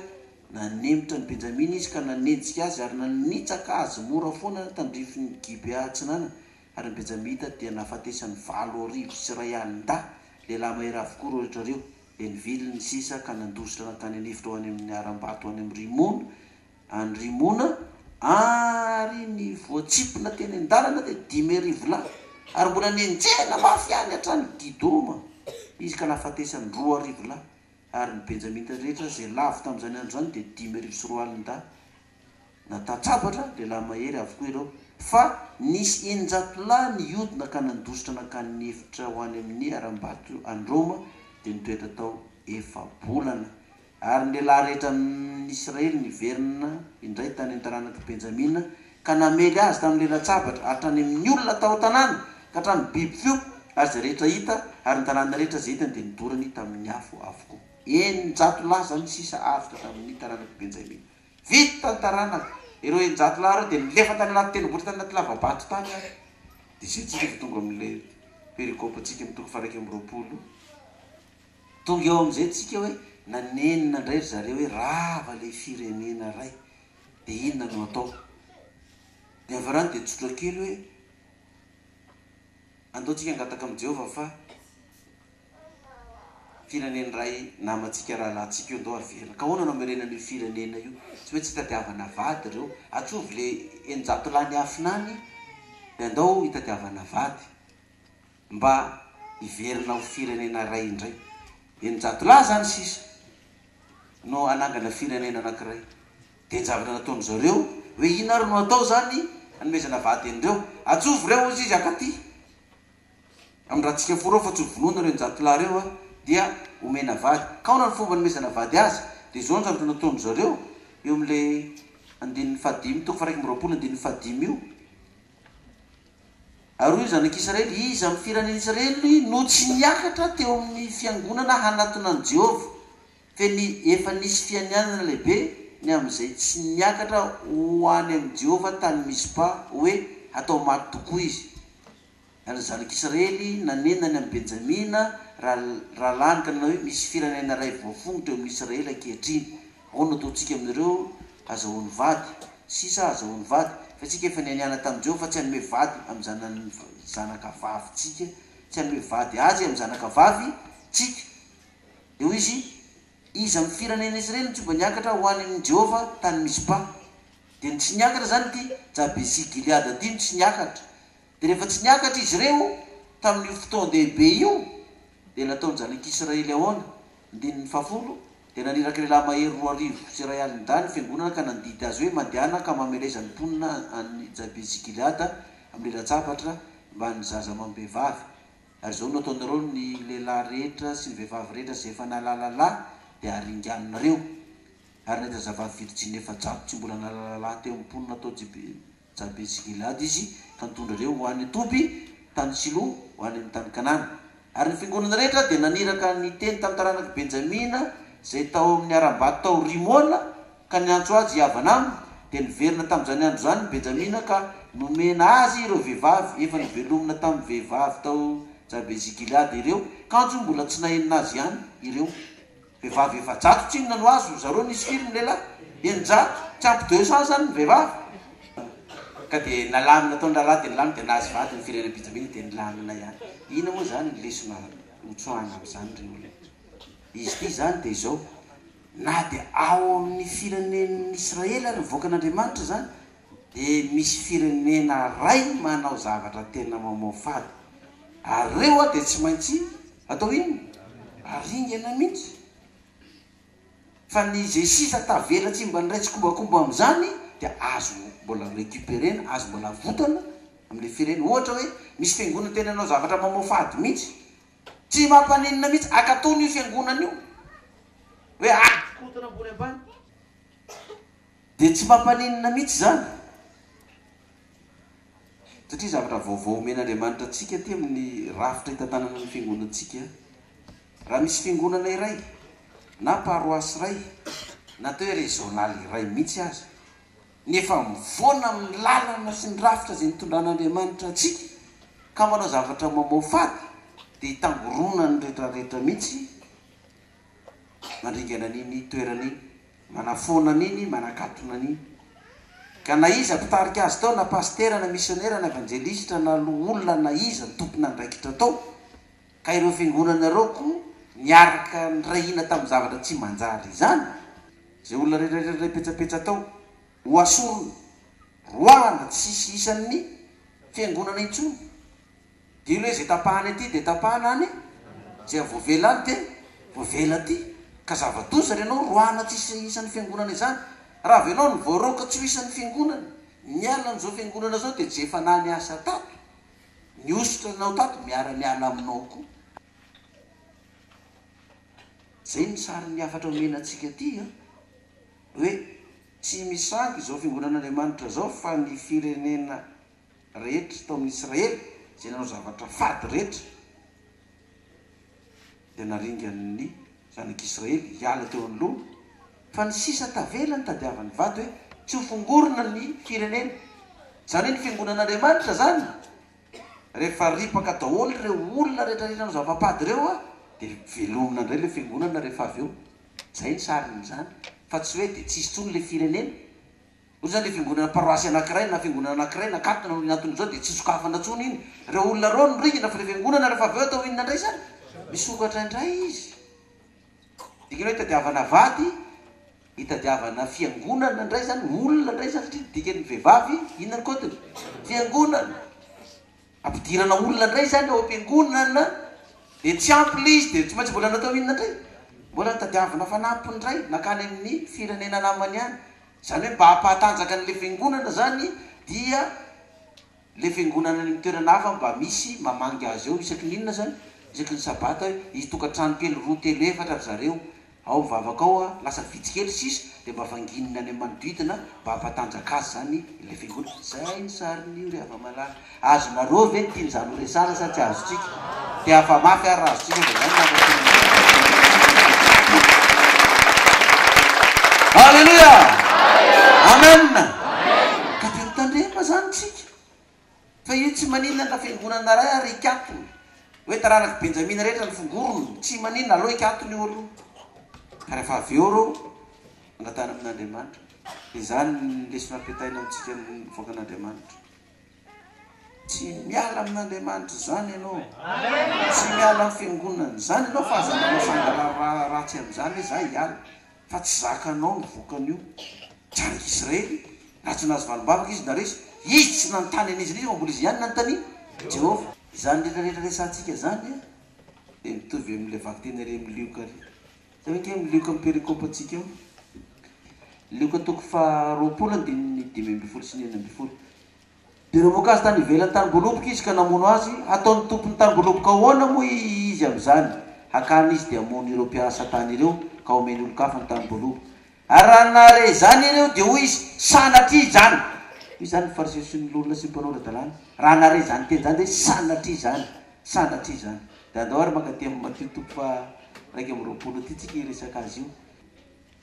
Nanemitra an'i Benjamina izy ka nanenjika azy ary nanitsaka azy mora foana ny tandrifin'i Gibea Atsinanana, ary ny Benjamita dia nahafatesany valo arivo sy iray alin-dahy, lehilahy mahery avokoa ireo rehetra ireo, dia nivily ny sisa ka nandositra nankany an'efitra ho any amin'ny harambato ho any amin'ny Rimona, Any Rimona ary ny voatsipona teny an-dalana dia dimy arivo lahy ary mbola nenjehina mafy any hatrany Didoma izy ka nahafatesany roa arivo lahy ary ny Benjamita rehetra izay lavo tamin'izany andro izany dia dimy arivo sy roa alin-dahy. Natatsabatra lehilahy mahery avokoa ireo fa nisy eninjato lahy nihodina ka nandositra nankany ny efitra ho any amin'ny harambato any Roma dia nitoetra tao efa-bolana. Ary ny lehilahy rehetra amin' ny Israely niverina indray tany amin' ny taranak' i Benjamina ka namely azy tamin' ny lalan-tsabatra, hatrany amin' ny olona tao an-tanàna ka hatramin' ny biby fiompy, ary izay rehetra hita, ary ny tanàna rehetra izay hitany dia nodorany tamin' ny afo avokoa. Eninjato lahy izany ny sisa avy tamin' ny taranak' i Benjamina. Vita ny taranaka, ireo eninjato lahy ireo dia nilefa tany anaty tendrombohitra, tany anaty lava-bato tany ary. Dia izay tsika vao tonga amin' ilay perikôpantsika amin' ny toko faha-iraika amby roapolo. Tonga eo amin'izay tsika hoe nanenina indray ry zareo hoe rava ilay firenena ray dia inona no atao? Ny havarany dia tsotra kely hoe andao tsika hangataka amin'i Jehovah fa firenena ray namantsika rahalahintsika io andao haverina. Ka ahoana no hamerenana io firenena io? Tsy maintsy hitadiavana vady ireo. Atsovy ilay eninjato lahy niafina any dia andao hitadiavana vady. mba hiverina ho firenena iray indray. Eninjato lahy izany sisa no hanangana firenena anankiray. Dia ny zavatra nataon-dry zareo, hoe inona ary no hatao izany hanomezana vady an'ireo? Atsovo ireo, hozy izy, ankaty amin'ny ratsika fo ireo, fa tsy ho vonoina ireo eninjato lahy ireo, dia homena vady. Ka ahoana no fomba hanomezana vady azy? Dia izao no zavatra nataon-dry zareo, eo amin'ilay andininy fahadimy toko faha iraika amby roapolo andininy fahadimy io. Ary hoy ny zanak'Israely, Iza amin'ny firenen'Israely no tsy niakatra teo amin'ny fiangonana hanatona an'i Jehovah? Fe ny efa nisy fianianana lehibe ny amin'izay tsy niakatra ho any amin'i Jehovah tany Mizpa, hoe hatao maty tokoa izy. Ary ny zanak'Israely nanena ny amin'i Benjamina rahalahiny ka nanao hoe, Misy firenena iray voafongotra eo amin'Israely ankehitriny, Ahoana no ataontsika amin'ireo hazahoany vady? Sisa hazahoany vady. Fa isika efa nianiana tamin'i Jehovah fa tsy hanome vady amin'ny zanany zanakavavintsika, tsy hanome vady azy amin'ny zanakavavintsika. Dia hoy izy, Iza amin'ny firenen'izy ireny no tsy mba niakatra ho any amin'i Jehovah tany Mizpa? Dia ny tsy niakatra izany ity, Jabesi-gileada ity no tsy niakatra. Dia rehefa tsy niakatra izy ireo tamin'io fotoan-dehibe io, dia nataon'ny zanak'i Israely ahoana? Andininy fahafolo, Dia naniraka ilay lahy mahery roa arivo sy iray aliny dahy ny fiangonana ka nandidy azy hoe, Mandehana ka mameleza ny mponina any Jabesi-gileada amin'ny latsabatra mba ny zaza amam-behivavy. Ary izao no ataonareo, Ny lehilahy rehetra sy ny vehivavy rehetra izay efa nahalala lahy dia haringaninareo. Ary nahita zavavy virjiny efajato tsy mbola nahalala lahy teo amin'ny mponina tao Jabesi-gileada. Jabesi-gilada izy, ka nitondra ireo ho any Toby, tany Silo, ho any amin'ny tany Kanana. Ary ny fiangonana rehetra dia naniraka ny teny tamin'ny taranak'i Benjamina izay tao amin'ny harambato tao Rimona, ka niantso azy hihavana aminy, dia niverina tamin'izany andro izany ny Benjamina ka nomena azy ireo vehivavy efa novelomina tamin'ny vehivavy tao Jabesi-gilada ireo, kanjo mbola tsy nahenina azy ihany ireo. Vehivavy efajato tsinona no azo zareo nisy firy ny lehilahy? Eninjato? Tsy ampy deux cents zany ny vehivavy? Ka dia nalamina tao ny raharaha dia nilamina dia nahazo vady ny firenena Benjamina dia nilamina ihany. Inona moa izany ny lesona hotsoahina amin'izany ry olona? Izy ity izany dia izao, na dia ao amin'ny firenen'Israely ary mivoaka an'Andriamanitra izany Dia misy firenena ray manao zavatra tena mamoafady ary reo a dia tsy maintsy atao inona? Aringana mihitsy. Fa ny ze sisa tavela tsy mba niray tsikombakomba amin'izany dia azo mbola recuperer-na, azo mbola avotana amin'ilay firene-. Ohatra hoe misy fiangonana tena nanao zavatra mamoafady mihitsy, tsy mampaninona mihitsy, akatona io fiangonana io hoe akontana ambony ambany. Dia tsy mampaninona mihitsy izany, satria zavatra vaovao omen'Andriamanitra antsika aty amin'ny rafitra hitantanana ny fiangonantsika. Raha misy fiangonana iray, na paroasy iray, na atao hoe régional iray mihitsy aza, ny efa mifoana amin'ny lalana sy ny rafitra izay nitondran'Andriamanitra antsika, ka manao zavatra mamoafady, dia hitangoronan'ny rehetrarehetra mihitsy mandringana an'iny toerana iny. Manafoana an'iny, manakatona an'iny. Ka na iza mpitarika azy tao, na pasitera, na misionera, na evanjelistra, na loholona, na iza ny tompon'andraikitra tao, ka ireo fiangonana ireo koa niaraka nirahina tamin'ny zavatra tsy manjary izany, izay olona rehetra rehetra ilay petsapetsa tao, hohasorina, roahana, tsy hisy isan'ny fiangonana intsony. Dino hoe zay tapahany aty dia tapahana any, zay voavela any dia voavela aty. Ka zava-doza ry anao roahina tsy hisy isan'ny fiangonana izany. Raha avy anao no voaroaka tsy ho isan'ny fiangonana, miala an'izao fiangonana izao dia tsy efa naha niasa tato? Nihosotra anao tato miara-miala aminao koa. Zay ny sarin'ny hafatra omena antsika aty an! Hoe tsy misangy izao fiangonan'Andriamanitra izao fa ny firenena. rehetra tao amin'ny Israely, izay nanao zavatra fady rehetra, dia naringan'ny zanak'Israely hiala teo anoloany, fa ny sisa tavela no tadiavin'ny vato hoe tsy ho fongorina ny fireneny. Izany hoe ny fiangonan'Andriamanitra izany, rehefa ripaka daholo ireo olona rehetra izay nanao zava-pady ireo, dia velomina indray ilay fiangonana rehefa avy eo. Izay ny sarin'izany, fa tsy hoe dia tsy hisy intsony ilay firenena. Hoy izany ilay fiangonana paroasy anankiray na fiangonana anankiray nakatona noho iny antony izao dia tsy sokafana intsony iny. Ireo olona ireo no niringana fa ilay fiangonana rehefa avy eo atao inona indray izany? Misokatra indray izy. Dikany hoe hitadiavana vady, hitadiavana fiangonana indray izany, olona indray izany satria ny dikan'ny vehivavy inona ny kaotiny? Fiangonana. Ampidirana olona indray izany ao am-piangonana, dia tsy ampy ilay izy, dia tsy maintsy mbola natao inona indray? Mbola nitadiavina fanampiny indray, nankany amin'ny firenena namany any. Izany hoe mba hampahatanjaka an'ilay fiangonana izany dia ilay fiangonana any amin'ny toerana hafa mba misy mamangy azy eo isaky ny inona izany? isaky ny sabata hoe hisy tokantrano kely roa, telo, efatra ry zareo Ao vavaka ao a, lasa vitsy kely sisa dia mba vanginina any amin'ny manodidina mba hampatanjaka azy izany ilay fiangonana. Izay ny sarin'io ry hava-malala. Azonareo ve ny tian'izany ho resahana sa tsy azontsika? Te hafa mafy ary raha azontsika dia izay no mankasitraka an'i Jesosy. Aleloia! Amen! Ka dia mitandrema izany isika. Fa io tsy maninona na fiangonana iray ary hikatona hoe taranak'i Benjamina rehetra ny fongorony, tsy maninona, aleo hikatona io aloha, ka rehefa avy eo ireo mangatahana amin'Andriamanitra. Dia izany ny lesona ampiataina amintsika ny vahoakan'Andriamanitra. Tsy miala amin'Andriamanitra izany ianao, tsy miala amin'ny fiangonana izany ianao fa aza manao sanganà ratsy amin'izany hoe izaho hiala. fa tsy zakanao ny vokan'io. Janaka Israely, raha tsy nahazo valim-bavaka izy na resy, izy tsy nanontany an'izy ireo fa mbola izy ihany nanontanian'i Jehovah. Izany rehetra rehetra resahantsika izany dia mitovy amin'ilay vakiteny ary amin'ny lioka ary. Izay ve ange ny lioka amin'ny perikopantsika ao? Lioka toko faha roapolo andininy dimy ambin'ny folo sy ny enina ambin'ny folo. Dia namoaka azy tany ivelan'ny tanimboaloboka izy ka namono azy. Hataon'ny tompon'ny tanimboaloboka ahoana moa izy amin'izany? Hakany izy dia hamono ireo mpiasa tany ireo ka homeny olon-kafa ny tanimboaloboka. Ary raha nahare izany ireo, dia hoy izy, Sanatria izany! Hoy izany ny Fariseo sy ny loholona sy ny mpanao ara-dalàna, raha nahare izany teny izany, dia hoe, Sanatria izany! Sanatria izany! Dia andao ary mankaty amin'i Matio toko faha iraika amby roapolo ity isika hiresaka azy io.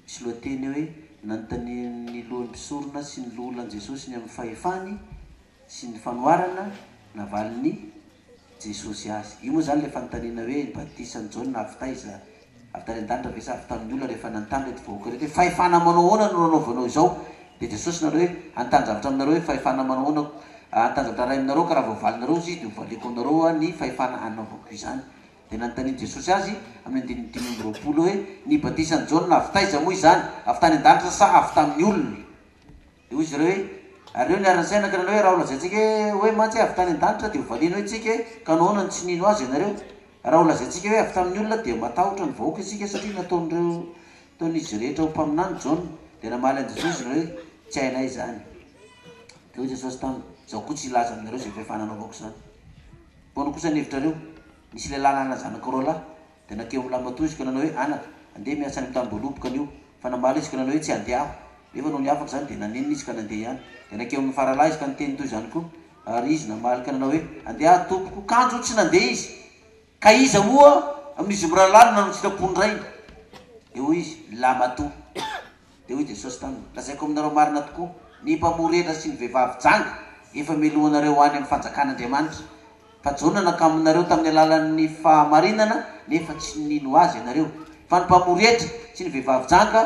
Tsy lohateny hoe nanontanian'ny lohan'ny mpisorona sy ny loholona an'i Jesosy ny amin'ny fahefany sy ny fanoharana navalin'i Jesosy azy. Io moa izany ilay fanontaniana hoe ny batisan'i Jaona avy taiza? Avy tany an-danitra ve sa avy tamin'ny olona? Rehefa nanontany ireto vahoaka ireto hoe fahefana manao ahoana no nanaovanao izao? dia Jesosy nanao hoe hanontany zavatra aminareo hoe fahefana manao ahoana hanontany zavatra iray aminareo ka raha voavalinareo izy dia hovaliako aminareo ny fahefana hanaovako izany. Dia nanontanian'i Jesosy azy, amin'ny andininy dimy amby roapolo, hoe, Ny batisan'i Jaona avy taiza moa izany? Avy tany an-danitra sa avy tamin'ny olona? Dia hoy izy ireo hoe, Ary ireo niara nisaina ka nanao hoe, Raha holazaintsika hoe mantsy avy tany an-danitra, dia hovaliany hoe, Tsika e, ka nahoana no tsy nino azy ianareo? Raha holazaintsika hoe avy tamin'ny olona, dia matahotra ny vahoaka isika, satria nataon'ireo, nataon'izy rehetra ho mpaminany Jaona. Dia namaly an'i Jesosy izy ireo hoe, Tsy hainay izany. Dia hoy Jesosy taminy, Izaho koa tsy hilaza aminareo izay fahefana anaovako izany. Ahoana kosa ny hevitrareo? Nisy lehilahy nanana zanaka roa lahy, dia nankeo amin'ny lamatoa izy ka nanao hoe, Anaka, andeha miasa any amin'ny tany boaloboka anio. Fa namaly izy ka nanao hoe, Tsy handeha aho. Nefa nony afaka izany, dia nanenina izy ka nandeha ihany. Dia nankeo amin'ny faralahy izy ka niteny toy izany koa. Ary izy namaly ka nanao hoe, Andeha aho, tompoko. Kanjo tsy nandeha izy. Ka iza moa amin'izy mirahalahy no nanao ny sitrapon-drainy? Dia hoy izy, Ny lamatoa. Dia hoy Jesosy taminy, Lazaiko aminareo marina tokoa, ny mpamory hetra sy ny vehivavy janga efa melohinareo ho any amin'ny fanjakan'Andriamanitra. Fa Jona nakamoy anareo tamin'ny alalan'ny fahamarinana, nefa tsy nino azy ianareo. Fa ny mpamory hetra sy ny vehivavy janga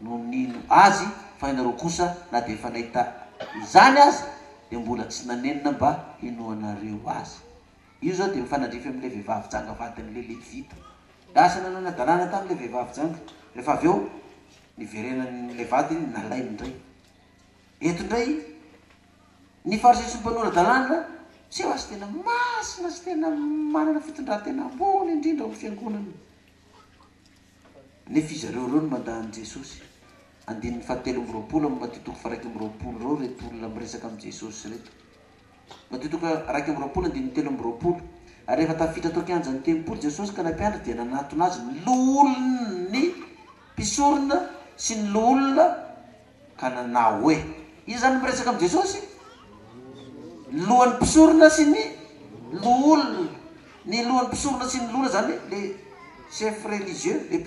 no nino azy, fa ianareo kosa, na dia efa nahita izany aza, dia mbola tsy nanenina mba hinoanareo azy. Io izao dia mifanandrify amin'ilay vehivavy janga vadin'ilay Levita. Lasa nanana-dalàna tamin'ilay vehivavy janga. Rehefa avy eo, niverenan'ilay vadiny, nalainy indray. Eto indray, ny Fariseo sy ny mpanora-dalàna, seho fa tena masina sy tena manana fitondran-tena ambony indrindra ao amin'ny fiangonana. Nefa izy ireo ireo no mandà an'i Jesosy. Andininy fahatelo amby roapolo amin'ny Matio toko faharaika amby roapolo ireo ireto olona miresaka amin'i Jesosy ireto. Matio toko iraika amby roapolo andininy telo amby roapolo Ary rehefa tafiditra tao an-kianjan'ny tempoly Jesosy ka ilay mpianatra dia nanatona Azy ny loholon'ny mpisorona sy ny loholona ka nanao hoe, Iza izany no miresaka amin'i Jesosy? Ny lohan'ny mpisorona sy ny loholona. Ny lohan'ny mpisorona sy ny loholona izany le chef religieux, le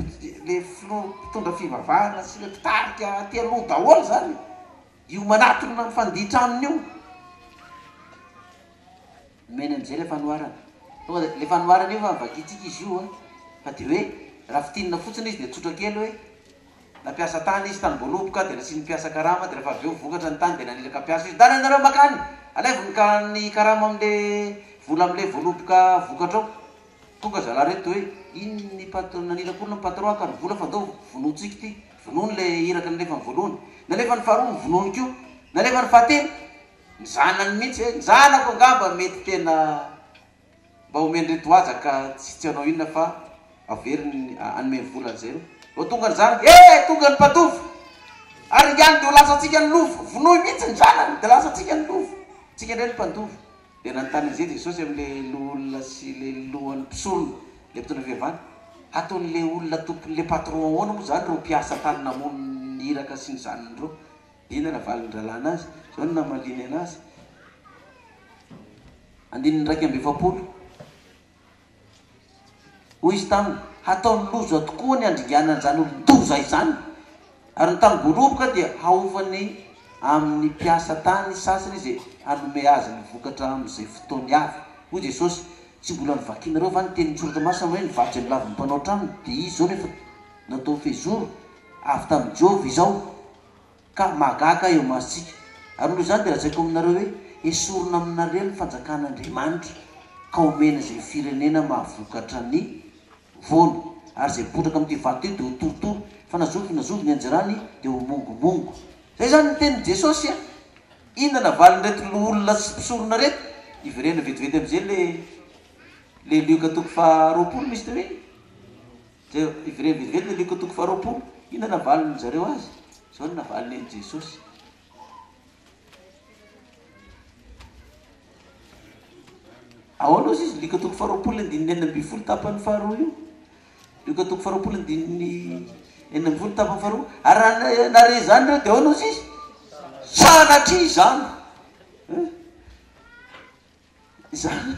le filoha mpitondra fivavahana sy le mpitarika aty aloha daholo izany. Io manatona ny fandihy tranony io nomeny an'izay ilay fanoharana. Tonga dia ilay fanoharana io fa vakintsika izy io an. Fa dia hoe raha fintinina fotsiny izy dia tsotra kely hoe nampiasa tany izy tany Voaloboka dia nasian'ny mpiasa karama dia rehefa avy eo vokatra ny tany dia nanilaka mpiasa izy. Ndana ianareo maka any, alaivo ny ka ny karama amin'ilay vola amin'ilay Voaloboka vokatra ao. Tonga zalahy ireto dia hoe iny ny patr- nanilaka olona ny patron haka ny vola fa ndao vonointsika ity. Vonoiny ilay iraka nalefany voalohany. Nalefany faharoa, vonoiny koa. Nalefany fahatelo, ny zanany mihitsy hoe, ny zanako angamba mety tena mba omen'ireo tohaja ka tsy tsy hanao inona fa averiny hanome vola an'izay ireo. Vao tonga ny zanany, he! tonga ny mpatovo! Ary ihany dia ho lasantsika ny lova! Vonoy mihitsy ny zanany dia lasantsika ny lova! Tsika indray ny mpandova. Dia nanontany an'izay Jesosy amin'ilay loholona sy ilay lohan'ny mpisolo, ilay mpitondra fivavahana, Hataon'ilay olona tompon'ilay patron ahoana moa izany ireo mpiasa tany namono ny iraka sy ny zanany ireo? Dia inona no valin'ny rahalahy anazy? Izao no namaliany anazy, andininy iraika amby efapolo. Hoy izy taminy, Hataony loza tokoa ny handringana an'izany olon-doza izany! Ary ny tany voaroboka dia haofany amin'ny mpiasa tany sasany izy hanome azy ny vokatra amin'izay fotoany avy. Hoy Jesosy, Tsy mbola novakinareo va ny tenin'ny Soratra Masina hoe, 'Ny vatsy amilavon'ny mpanao trano dia izy izao no efa nataony fehizoro avy tamin'i Jehovah izao'? Ka mahagaga ahy eo masontsika. Ary noho izany dia lazaiko aminareo hoe, Hesorina aminareo ny fanjakan'Andriamanitra, ka homena izay firenena mahavokatra ny voany. Ary izay botraka amin'ity vato ity dia ho torotoro, fa na zovy na zovy ny anjerany dia ho mongomongo. Izay izany ny tenin'i Jesosy a! Inona navalin'ireto loholona sy mpisorona ireto? Iverena vetivety amin'izay ilay ilay Lioka toko faha roapolo, misy teo iny. Jereo, ivelany velively ny alika toko faharoapolo. Inona no navalin-dry zareo azy? Izao no navaliny an'i Jesosy. Ahoana ozy izy? Lika toko faharoapolo andininy enina ambin'ny folo tapany faharoa io. Lika toko faharoapolo andininy enina ambin'ny folo tapany faharoa. Ary raha nare izany ireo dia ahoana ozy izy? Sanatria izany. Eh? Izany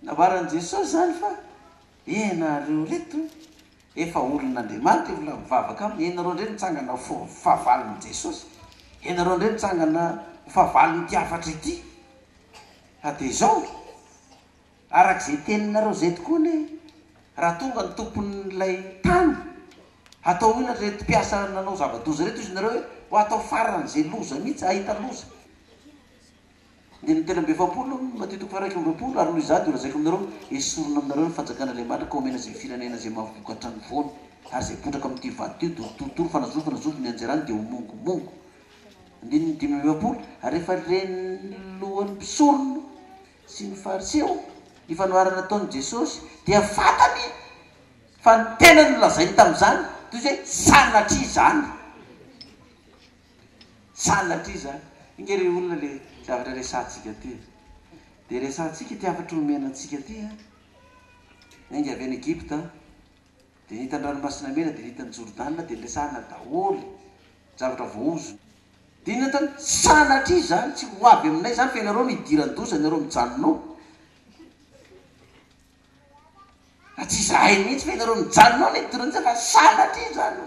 nambaran'i Jesosy izany fa ianareo reto efa olon'Andriamanitra io olona mivavaka aminy, ianareo indray mitsangana ho fahavalon'i Jesosy, ianareo indray mitsangana ho fahavalon'ity hafatra ity, fa dia izao, araka izay teninareo izay tokoa anie raha tonga ny tompon'ilay tany, hatao inona reto mpiasa nanao zava-doza reto, hoy izy nareo hoe ho atao faran'izay loza mihitsy, hahita loza. Dia ny telo amby efapolo, Matio toko faharoa amby roapolo, Ary noho izaho dia holazaiko aminareo, Esorina aminareo ny fanjakan' Andriamanitra ka homena izay firenena izay mahavoka hatrany foana, ary izay potraka amin' ity vato ity, dia ho torotoro fanazovo fanazovo ny anjarany, dia ho mongomongo. Andininy dimy amby efapolo, Ary rehefa ren' ny lohan' ny mpisorona sy ny Fariseo ny fanoharana nataon' i Jesosy, dia fantany fa ny tenany nolazainy tamin' izany toy izay sanatria izany. Sanatria izany. Inge re olona ilay zavatra resahantsika ity e. Dia resahantsika ity hafatra omena antsika ity a. Niainga avy any Egypta dia nahita ny Ranomasina Mena dia nahita an'i Jordana dia niresahana daholo ny zavatra voahozona. Dia inona tany? Sanatria izany tsy ho avy aminay izany fa ianareo no hidiran-doza, ianareo mijanona ao. Fa tsy izahay mihitsy fa ianareo mijanona ao ilay tononkira fa sanatria izany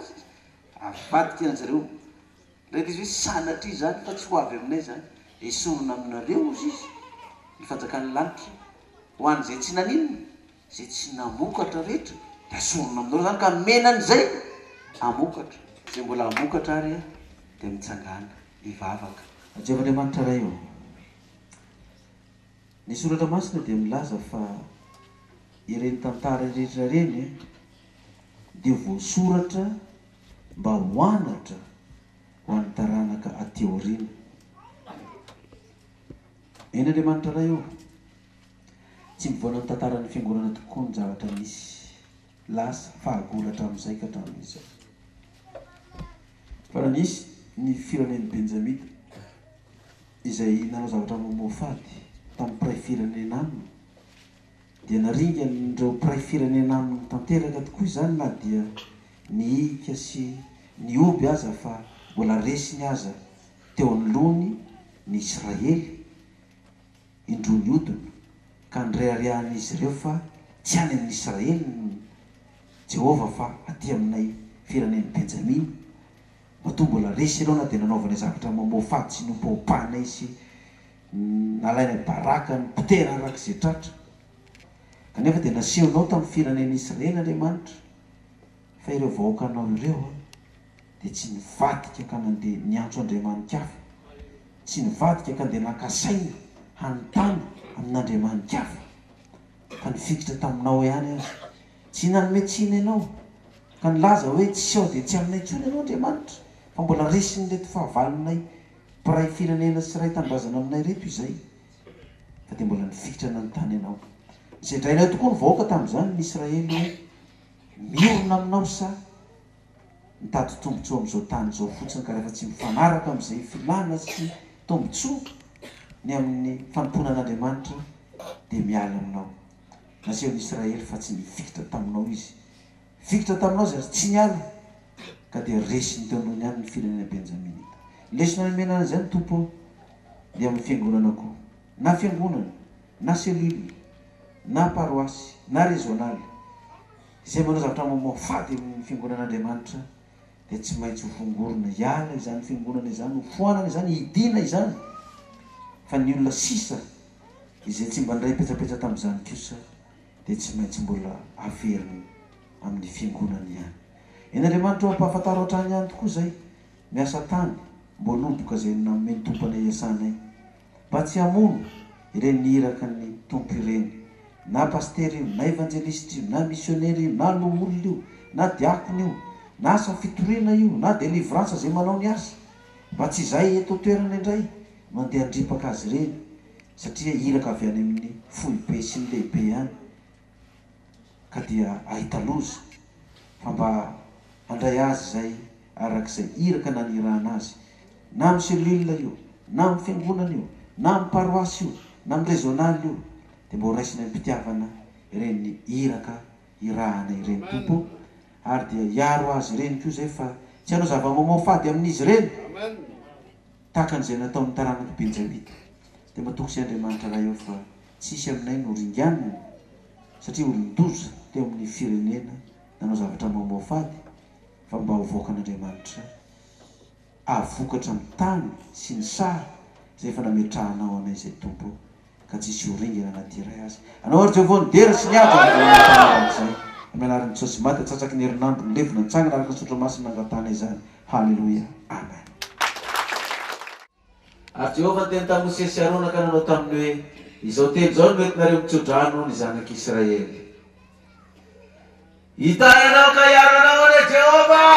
avadika an-dry zareo. Ilay ilay izy hoe sanatria izany fa tsy ho avy aminay izany. Esorina aminareo, hozy izy, ny fanjakan'ny lanitra. Ho an'izay tsy naninona, izay tsy namokatra rehetra dia asorina aminareo izany ka menany izay hamokatra. Izay mbola hamokatra àry an, dia mitsangàna, hivavaka. Jehovah Andriamanitra Ray ô! Ny Soratra Masina dia milaza fa ireny tantara rehetra ireny dia voasoratra mba ho anatra ho an'ny taranaka aty aoriana. Eny Andriamanitra Ray ô! Tsy mivoana ny tantaran'ny Fiangonana tokoa ny zavatra nisy, lasa, fahagola hatramin'izay ka hatramin'izao. Fa raha nisy ny firenen'ny Benjamita, izay nanao zavatra mamoafady tamin'ny mpiray firenena aminy, dia naringan'ireo mpiray firenena aminy tanteraka tokoa izany na dia nihiaka sy nihoby aza fa mbola resiny aza teo anoloany ny Israely indroa nihodina, ka nireharehan'izy ireo fa tsy any amin'i Israely ny Jehovah fa aty aminay firenen'i Benjamina. Matoa mbola resy ireo na dia nanaovanay zavatra mamoafady sy nompaompahanay sy nalainay baraka nipotehana araka izay tratra. Kanefa dia nasehonao tamin'ny firenena Israely, Andriamanitra, fa ireo vahoakanao ireo dia tsy nivadika ka nandeha niantso andriamani-kafa, tsy nivadika ka ndeha naka saina hanontany amin'andriamani-kafa, fa nifikitra taminao ihany aza Tsy nanome tsiny ianao, ka nilaza hoe, Tsy ao dia tsy aminay intsony ianao, Andriamanitra, fa mbola resin'ireto fahavalonay mpiray firenena sy iray tanindrazana aminay ireto izay, fa dia mbola nifikitra nanontany ianao. Nosedrainao tokoa ny vahoaka tamin'izany, ny Israely, hoe, Mirona aminao sa mitady tombontsoa amin'izao tany izao fotsiny, ka rehefa tsy mifanaraka amin'izay filàna sy tombontsoa ny amin'ny fanompoana an'Andriamanitra, dia miala aminao? Asehon'i Israely fa tsy nifikitra taminao izy. Nifikitra taminao izy ary tsy niala, ka dia resiny teo amboniny ihany ny firenena benjaminita. Lesona nomena an'izay ny Tompo dia amin'ny fiangonana koa, na fiangonana, na cellule, na paroasy, na rezionaly, izay manao zavatra mamoafady amin'ny fiangonan'Andriamanitra dia tsy maintsy ho fongorina, hiala izany fiangonana izany, hofoanana izany, hidina izany, fa ny olona sisa Izay tsy mba nindray petsapetsa tamin'izany kosa dia tsy maintsy mbola haveriny amin'ny fiangonany ihany. Eny Andriamanitra ô ampahafantaro hatrany ihany tokoa izay miasa tany mbo noboka izay nanome ny Tompo anay hiasanay. Mba tsy hamono ireny iraky ny Tompo ireny. Na Pasitera io, na Evanjelisitra io, na Misionera io, na Loholona io, na Diakona io, na asa fitoriana io, na Delivrance izay manao ny asa. Mba tsy izay eto an-toerana indray Mandeha handripaka azy ireny satria iraka avy any amin'ny foibe sy ny lehibe ihany ka dia ahita loza fa mba handray azy izay araka izay iraka nanirahana azy na amin'ny cellule io na amin'ny fiangonana io na amin'ny paroasy io na amin'ny régional io dia mba horaisiny amim-pitiavana ireny iraka irahana ireny Tompo o ary dia hiaro azy ireny koa izay fa tsy hanao zava-mamoafady amin'izy ireny. Tahaka an'izay nataon'ny taranak'i Benjamina, dia matoky sy Andriamanitra raha eo fa tsy hisy aminay no ringanina, satria olon-doza teo amin'ny firenena nanao zavatra mamoafady, fa mba ho vaokan'Andriamanitra, hahavokatra amin'ny tany sy ny saha izay efa nametrahanao anay izay, Tompo ô. ka tsy hisy ho ringana na dia iray aza. Anao ary Jehovah no dera sy ny ady ary anao no mpamily arak'izay. Hamela ary ny Jesosy maty atsatsaky ny herinandro nilevina nitsangana araka ny Soratra Masina nangatahana izany. Haleloia. Amen. Ary Jehovah niteny tamin'i Mosesy sy Arona ka nanao taminy hoe, Izao teny izao no entinareo mitso-drano ny zanak'Israely. Hitahy anao ka hiaro anao anie Jehovah!